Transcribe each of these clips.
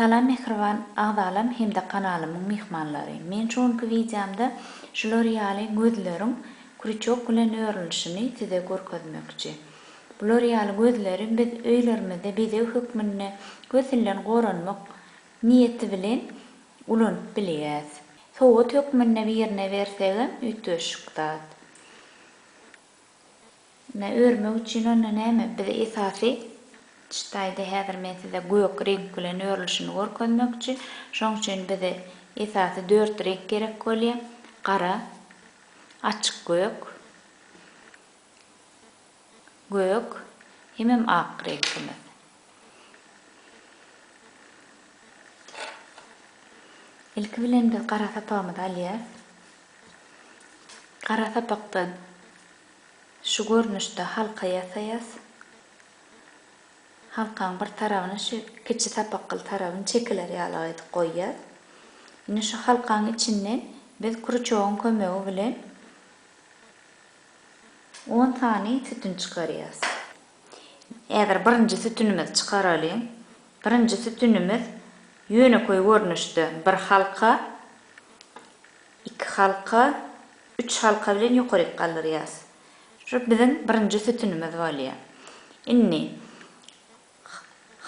Salam mähriban agzalam hem-de kanalymyň myhmanlary. Men şu günki wideomda şular ýaly gözleriň krýuçok bilen örülişini size görkezmekçi. Bular ýaly gözleri biz öýlerimizde bezeg hökmünde gösilden goranmak niýeti bilen ulanyp bilýäs. Sowgat hökmünde birine bersegem üýtgeşik zat. Ine örmek üçin onda näme biz esasy çytaýda häzir men size gök reňk bilen örülişini görkezmekçi şoň üçin bize esasy dört reňk gerek bolýa gara açyk gök gök hemem ak reňkimiz ilki bilen biz gara sapagymyzy alýas gara sapakdan Şu görnüşde halka ýasaýas. Halkaň bir tarabyny şu kiçi sapakgyl tarabyny çekiler ýalak edip goýýas. Indi şu halkaň içinden biz kruçogyň kömegi bilen on sany sütün çykarýas. Häzir birinji sütünimizi çykaralyň. Birinji sütünimiz ýönekeý görnüşde bir halka, iki halka, Üç halka bilen ýokaryk galdyrýas. Şu biziň birinji sütünimiz bolýa. Indi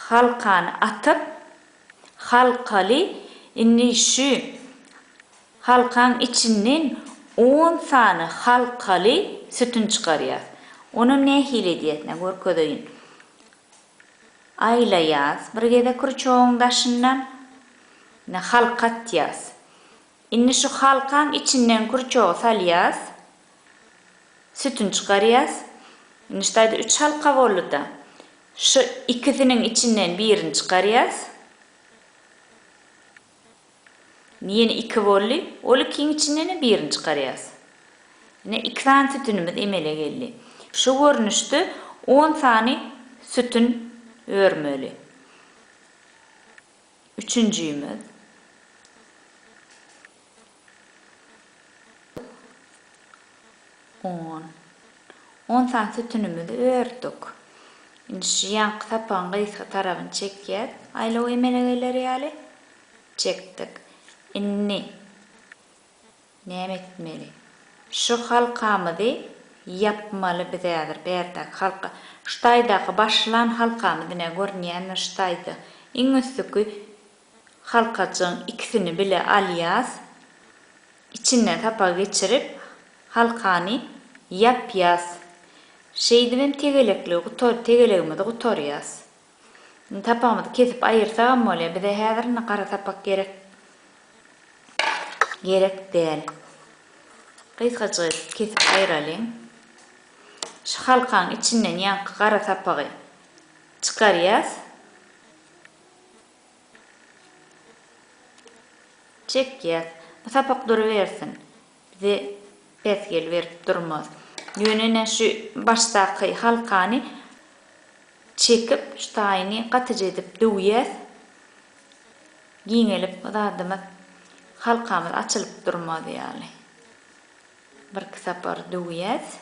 halkany atyp, halkaly indi şu halkaň içinden on sany halkaly sütün çykarýas. Onam nähili edýäsine görkezeýin. Aýlaýas bir gezek rçogyň daşyndan. Indi halka atýas. Indi şu halkaň içinden kurçogy salýas. Sütün çykarýas. Indi şu taýda üç halka boldy-da. Şu ikisiniň içinden birini çykarýas. Indi ýene iki boldy. Ol ikiň içinden-ä birini çykarýas. Ine, iki sany sütünimiz emele geldi. Şu görnüşde on sany sütün örmeli. Üçünjimiz, on. On sany sütünimizi ördük. Indi şu ýanky sapagyň gysga tarabyny çekýäs, aýlaw emele geler ýaly çekdik. Indi Näme etmeli? Şu halkamyzy ýapmaly biz häzir bärdäki halka. Şu taýdaky başlan halkamyz ine görünýändir şu taýda. Iň üstüki halkajygyň ikisini bile alýas. Içinden sapak geçirip halkany ýapýas. Şeýdibem tegelekligi gutar tegelegimizi gutarýas. Indi sapagymyzy kesip aýyrsagam bolýar. Bize häzir indi gara sapak gerek gerek däl. Gysgajyk edip kesip aýyralyň. Şu halkaň içinden ýaňky gara sapagy çykarýas. Çekýäs. Bu sapak durubersin. Bize päsgel berip durmaz. Ýöne ine şu başdaky halkany çekip şu taýyny gatyja edip döwýäs. Giňelip zadymyz halkamyz açylyp durmaz ýaly. Birki sapar döwýäs.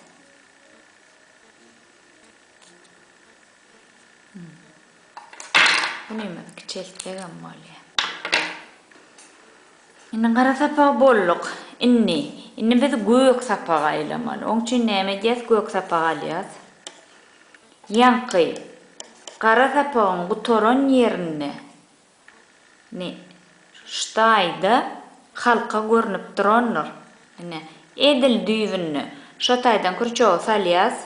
Bunymy kiçeltsegem bolýar. Indi gara sapagy bolduk. Indi, indi biz gök sapaga aýlamaly. Oň üçin näme edýäs? Gök sapagy alýas. Ýaňky gara sapagyň gutaran ýerinde ne ştaýda halka görnüp durandyr. Ine, edil düýbünde şo taýdan krýuçogy salýas.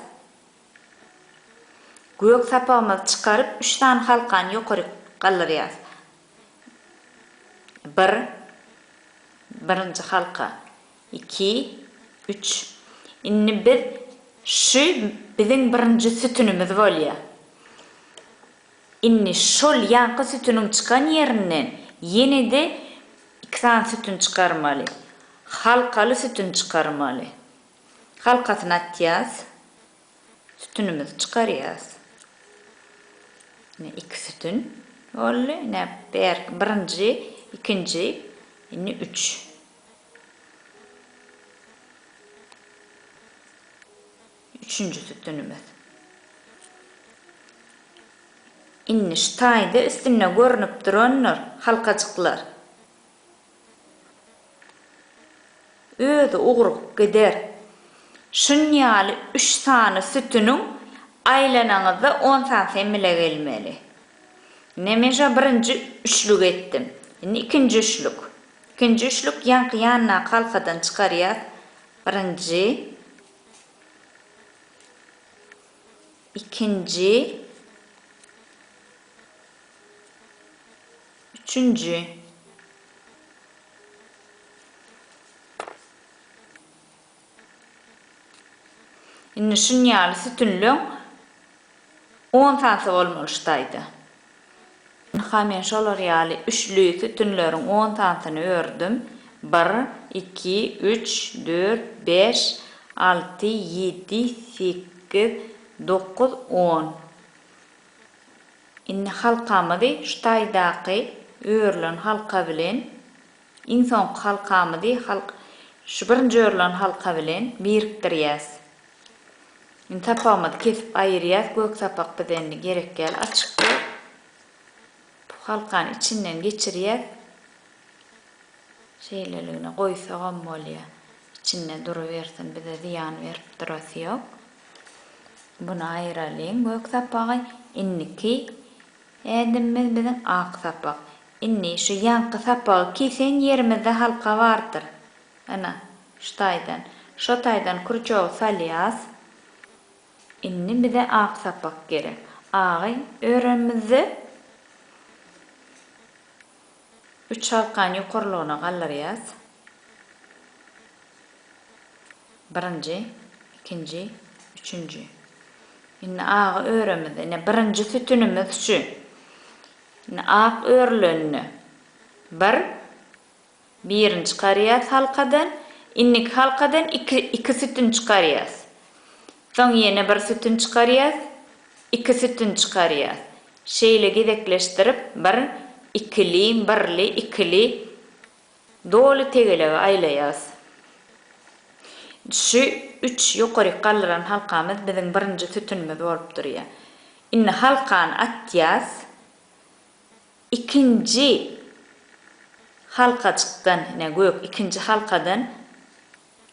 Gök sapagymyzy çykaryp, üç sany halkany ýokaryk galdyrýas. Bir, birinji halka. Iki, üç. Indi biz şu biziň birinji sütünimiz bolýar. Indi şol ýanky sütüniň çykan ýerinden ýene-de iki sany sütün çykarmaly. Halkaly sütün çykarmaly. Halkasyny atýas. Sütünimizi çykarýas. Ine iki sütün boldy. Ine bärki birinji, ikinji, indi üç. Üçünji sütünimiz. Indi şu taýda üstünde görnüp durandyr halkajyklar. Özi ugrup gider. Şun ýaly üç sany sütüniň aýlanaňyzda on sany semile gelmeli. Ine men şa birinji üçlük etdim. Indi ikinji üçlük. Ikinji üçlük ýaňky ýandaky halkadan çykarýas. Birinji. Ikinji. Üçünji. Indi şun ýaly sütünleň on sanysy bolmaly şu taýda. Ynha men şolar ýaly üçli sütünleriň on sanysyny ördüm. Bir, iki, üç, dört, bäş, alty, ýedi, sekiz, dokuz, on. Indi halkamyzy şu taýdaky örülen halka bilen, iň soňky halkamyzy halk şu birinji örülen halka bilen birikdirýäs. Indi sapagymyzy kesip aýyrýas, gök sapak bize indi gerek ýaly açykdy. Bu halkany içinden geçirýäs. Şeýleligine goýsagam bolýa. Içinde durubersin, bize zyýan berip durasy ýok. Buny aýyralyň gök sapagy. Indiki ädimimiz biziň ak sapak. Indi şu ýaňky sapagy kisen ýerimizde halka bardyr. Ana, şu taýdan. Şo taýdan krýuçogy salýas. Indi bize ak sapak gerek. Agy öremizde Üç halkany ýokarlygyna galdyrýas. Birinji, ikinji, üçünji. Indi agy öremiz. Ine, birinji sütünimiz şu. Indi ak örülende bir. Birini çykarýas halkadan. Indiki halkadan iki, iki sütün çykarýas. Soň ýene bir sütün çykarýas. Iki sütün çykarýas. Şeýle gezekleşdirip bir ikili, birli, ikili doly tegelegi aýlaýas. Şu üç ýokaryk galdyran halkamyz biziň birinji sütünimiz bolup durýar. Indi halkany atýas. Ikinji halkajykdan, ine, gök ikinji halkadan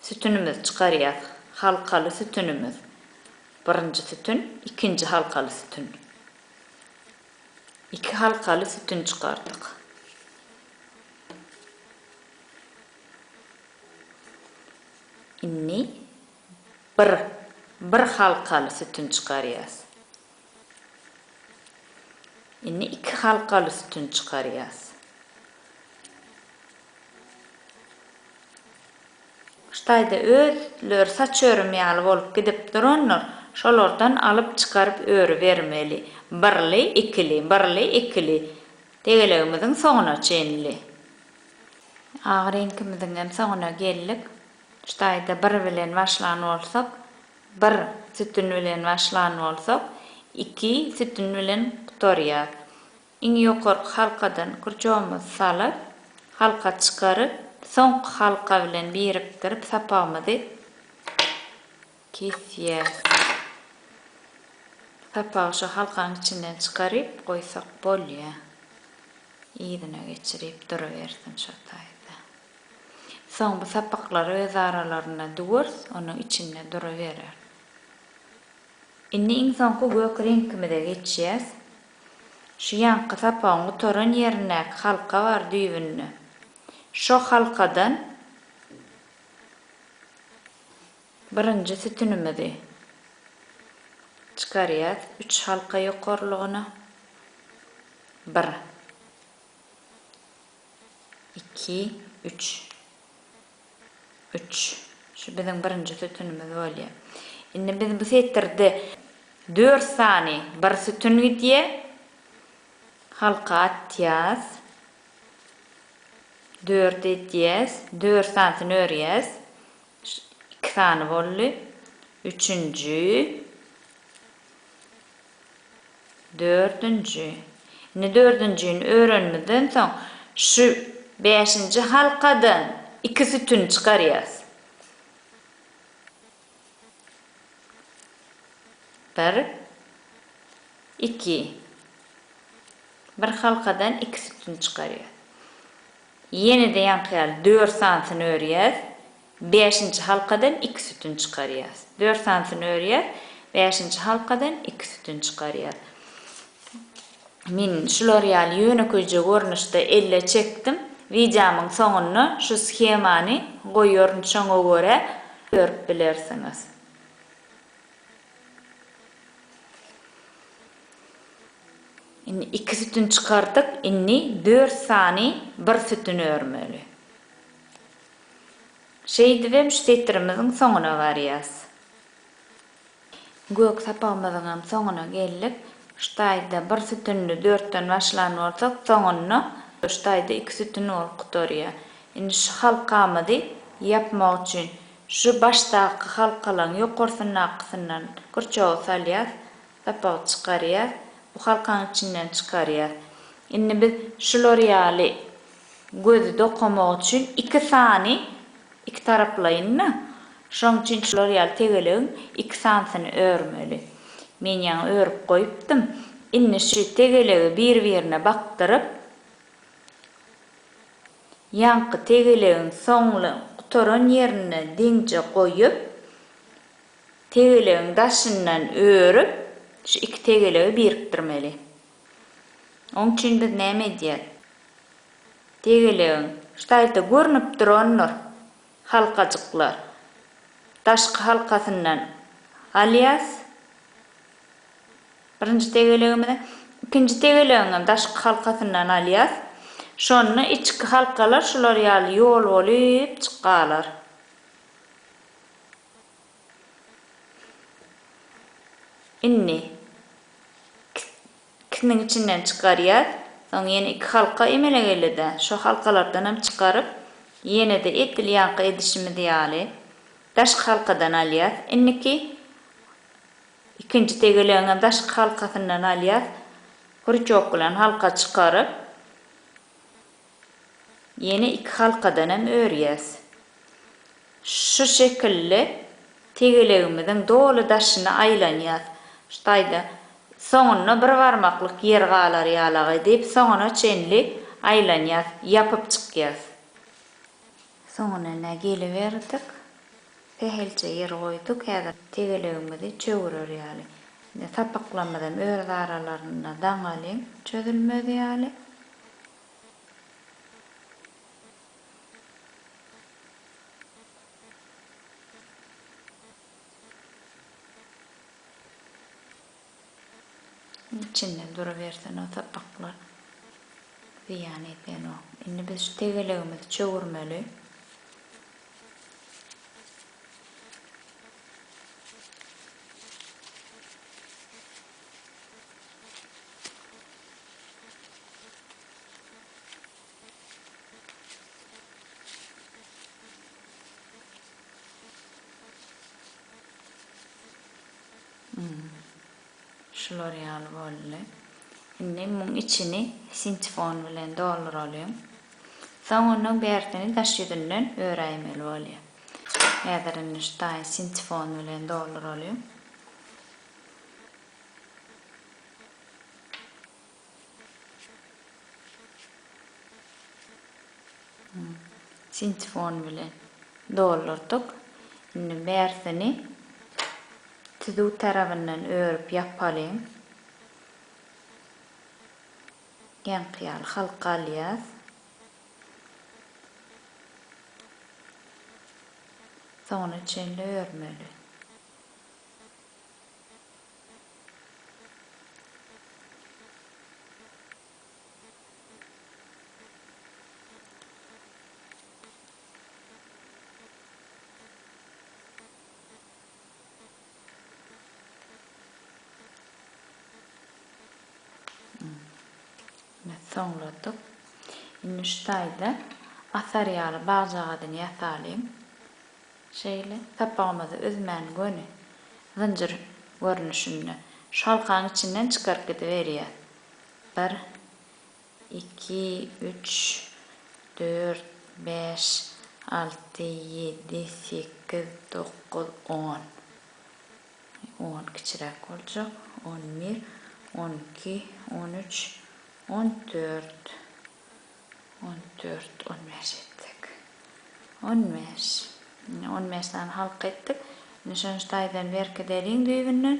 sütünimizi çykarýas. Halkaly sütünimiz. Birinji sütün, ikinji halkaly sütün. Iki halkaly sütün çykardyk. Indi bir, bir halkaly sütün çykarýas. Indi iki halkaly sütün çykarýas. Şu taýda özleri saç örüm ýaly bolup gidip durandyr, şolardan alyp çykaryp örübermeli. Birli, ikili, birli, ikili. Tegelegimiziň soňuna çenli. Agy reňkimiziňem soňuna geldik. Şu taýda bir bilen başlan bolsak, Bir sütün bilen başlan bolsak, iki sütün bilen gutarýar. Iň ýokarky halkadan kürçogymyzy salyp, halka çykaryp, soňky halka bilen birikdirip sapagymyzy kesýäs. Sapagy şu halkaň içinden çykaryp goýsak bolýar. Yzyna geçirip durubersin şo taýda. Soň bu sapaklar öz aralarynda dwors onuň içinde duruberer. Indi iň soňky gök reňkimize geçýäs. Şu ýaňky sapagyň gutaran ýerindäki halka bar düýbünde. Şo halkadan birinji sütünimizi çykarýas üç halka ýokarlygyna. Bir. iki, üç, üç. Şu biziň birinji sütünimiz bolýar. Indi biz bu setirde dört sany bir sütün gidýär. Halka atýas. Dört edýäs. Dört sanysyny örýäs. Iki sany boldy. Üçünji. Dördünji. Indi dördünjini öwrenimizden soň, şu bäşinji halkadan iki sütün çykarýarys. Bir. Iki. Bir halkadan iki sütün çykarýarys. Ýene-de ýaňky ýaly dört sanysyny örýäris. Bäşinji halkadan iki sütün çykarýas. Dört sanysyny örýäs. Bäşinji halkadan iki sütün çykarýas. Men şular ýaly ýönekeýje görnüşde elle çekdim. Wideomyň soňunda şu shemany goýaryn şoňa görä görüp bilersiňiz. Indi iki sütün çykardyk. Indi dört sany bir sütün örmeli. Şeýdibem şu setirimiziň soňuna barýas. Gök sapagymyzyňam soňuna geldik. Şu taýda bir sütünli dörtden başlan bolsak, soňunda şu taýda iki sütün bolup gutarýar. Indi şu halkamyzy ýapmak üçin şu başdaky halkalaň ýokarsyndakysyna kürçogy salýas, sapagy çykarýas, bu halkaň içinden çykarýas. Indi biz şular ýaly gözi dokamak üçin iki sany iki taraplaýynda, şoň üçin şular ýaly tegelegiň iki sanysyny örmeli. Men ýaňy örüp goýupdym. Indi şu tegelegi bir-birine bakdyryp, ýaňky tegelegiň soňly gutaran ýerine deňje goýup, tegelegiň daşyndan örüp, şu iki tegelegi birikdirmeli. Oň üçin biz näme edýäs? Degelegiň, şu taýda görnüp durandyr, halkajyklar. Daşky halkasyndan alýas. Birinji degelegimizi. Ikinji degelegiň hem daşky halkasyndan alýas. Şonda içki halkalar şular ýaly ýol bolup çykalar. Indi ikisiniň içinden çykarýas. Soň ýene iki halka emele gelede. Şo halkalardan hem çykaryp, ýenede edil ýaňky edişimiz ýaly daşky halkadan alýas. Indiki ikinji tegelegiň hem daşky halkasyndan alýas. Krýuçok bilen halka çykaryp. Ýene iki halkadan hem örýäs. Şu şekilli tegelegimiziň doly daşyny aýlanýas. Şu taýda soňunda bir barmaklyk ýer galar ýalagy edip soňuna çenli aýlanýas, ýapyp çykýas. Soňuna ine geliberdik. Sähelçe ýer goýduk. Häzir tegelegimizi çöwürer ýaly. Indi sapaklarymyz hem öz aralarynda daňalyň çözülmez ýaly. Içinde durubersin o sapaklar. Ziýan edýänok. Indi biz şu tegelegimizi çöwürmeli. Şular ýaly boldy. Indi muň içini sintifon bilen dolduralyň. Soň onuň bärsini daş ýüzünden öräýmeli bolýar. Häzir indi şu taýy sintifon bilen dolduralyň. Ikinji fon bilen doldurdyk. Indi bärsini tüzüw tarabyndan örüp ýapalyň. Geňki ýaly halka alýas. Soňuna çenli örmeli. Soňladyk. Indi şu taýda asar ýaly bagjagazyny ýasalyň. Şeýle sapagymyzy üzmän göni zynjyr görnüşinde şalkaň içinden çykaryp gidiberýär. Bir, iki, üç, dört, bäş, alty, ýedi, sekiz, dokuz, on. On kiçiräk boljak. On bir, on iki, on üç, on dört. On dört, on bäş etdik. On bäş. Ine, on bäş sany halka etdik. Indi şony taýdan berkideliň düýbünden.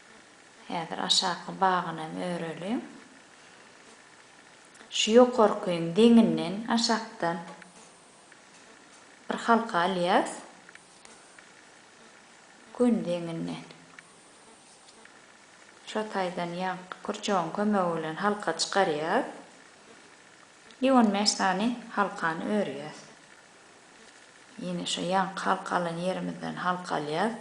Häzir aşaky bagynam öreliň. Şu ýokarkyň deňinden aşakdan bir halka alýas. Gün deňinden. Şo taýdan ýanky kürçegiň kömegi bilen halka çykarýas. I on bäş sany halkany örýäs. Ýene şo ýanky halka alan ýerimizden halka alýas.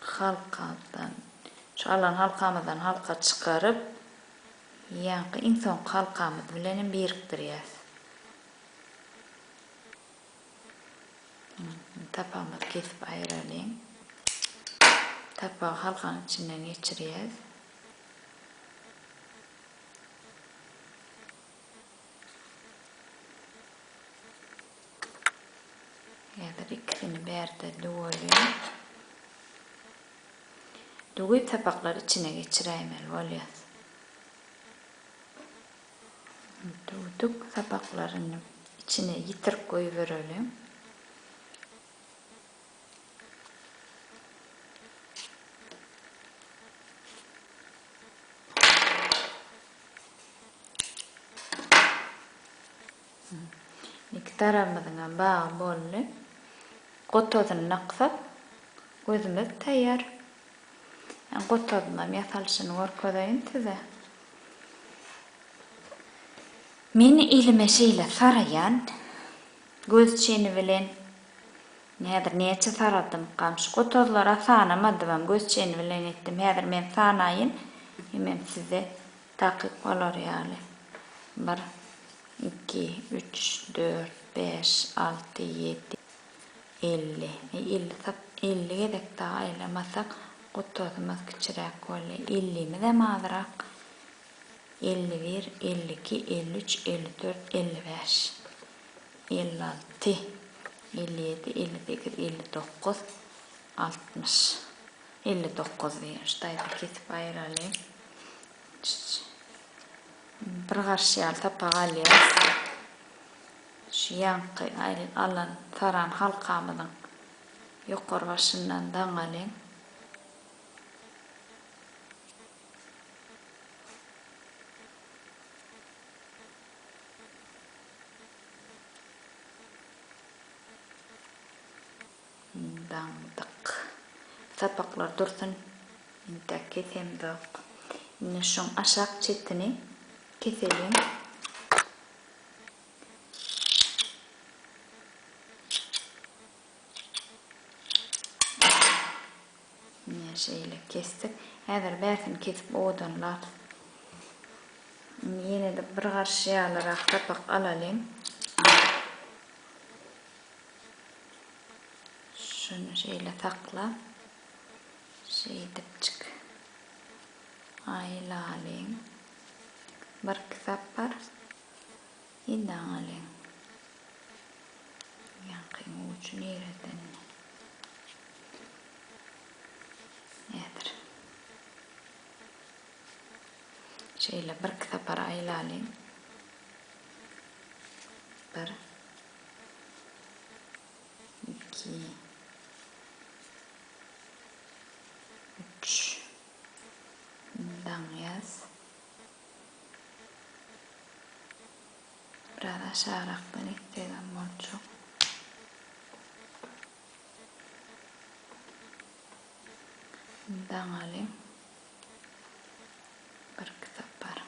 Halkamdan, şu alan halkamyzdan halka çykaryp, ýaňky iň soňky halkamyz bilen hem birikdirýäs. Indi tapagymyzy kesip aýyralyň. Tapagy halkanyň içinden geçirýäs. Häzir ikisini bärde düwelýän. Düwip sapaklary içine geçiräýmeli bolýas. Düwdük sapaklaryny içine ýitirip goýbereliň. Iki tarabymyzyň hem bagy boldy. Gotazyny naksak, gözümiz taýýar. Men gotazyň hem ýasalyşyny görkezeýin size. Men elime şeýle saraýan, göz çeni bilen Häzir näçe saradym. Gamşy gotazlara sanamadymam, göz çeni bilen etdim. Häzir men sanaýyn, hemem size takyk bolar ýaly. Bir, iki, üç, dört, bäş, alty, ýedi, elli. Eý, elli sap, elli gezek dagy aýlamasak, gotazymyz kiçiräk bolýa. Ellimizem azrak. Elli bir, elli iki, elli üç, elli dört, elli bäş. elli alty, elli ýedi, elli sekiz, elli dokuz, altmyş, elli dokuz diýen şu taýda kesip aýyraly. Bir garşy ýaly sapak alýas. Şu ýanky alan taran halkamyzyň ýokary başyndan daňaly. Daňdyk sapaklar dursun, intäk kesemzok. Indi şuň aşak çetini keseliň. Mine şeýle kesdik. Häzir bärsini kesip owadanlarys. Indi ýene-de bir garşy ýalyrak sapak alalyň. Şuny şeýle sakla. Şeýdipjik aýlalyň. Birki sapar. Indi aňalyň, ýaňky uçy nireden nädir? Şeýle birki sapar aýlalyň. Bir. Iki. Üç. Indi aňýas. Biraz aşagrakdan etsegem boljak. Indi daňaly birki sapar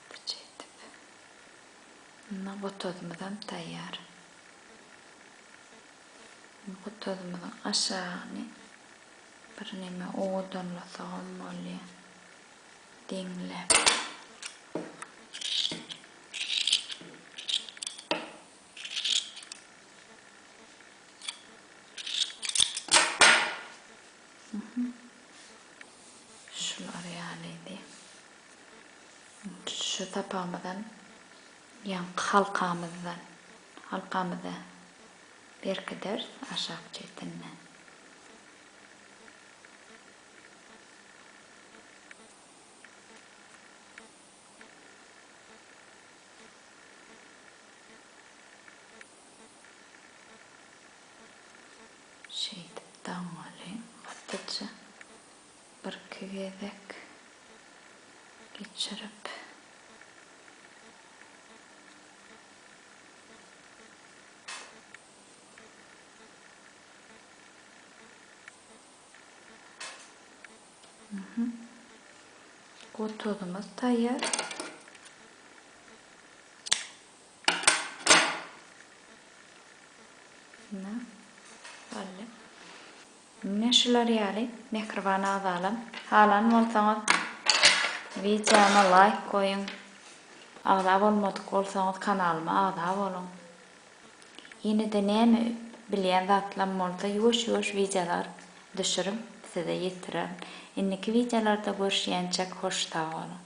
gatyja edip. Indi gotazymyzam taýýar. Gotazymyzyň aşagyny birneme owadanlasagam bolýar. Diňle. Şular ýalydy. Şu sapagymyzdan ýaňky halkamyzdan halkamyzy berkideris aşak çetinden. Şeýdip damgaly gatyja birki gezek geçirip, Gotozymyz taýýar. Ine, belli. Ine şular ýaly mähriban agzalam, halan bolsaňyz wideoma laýk goýuň. Agza bolmadyk bolsaňyz kanalyma agza boluň. Ýenede näme bilýän zatlam bolsa ýuwaş ýuwaş wideolar düşürip size ýetirerin. Indiki wideolarda görüşýänçek hoş sagboluň.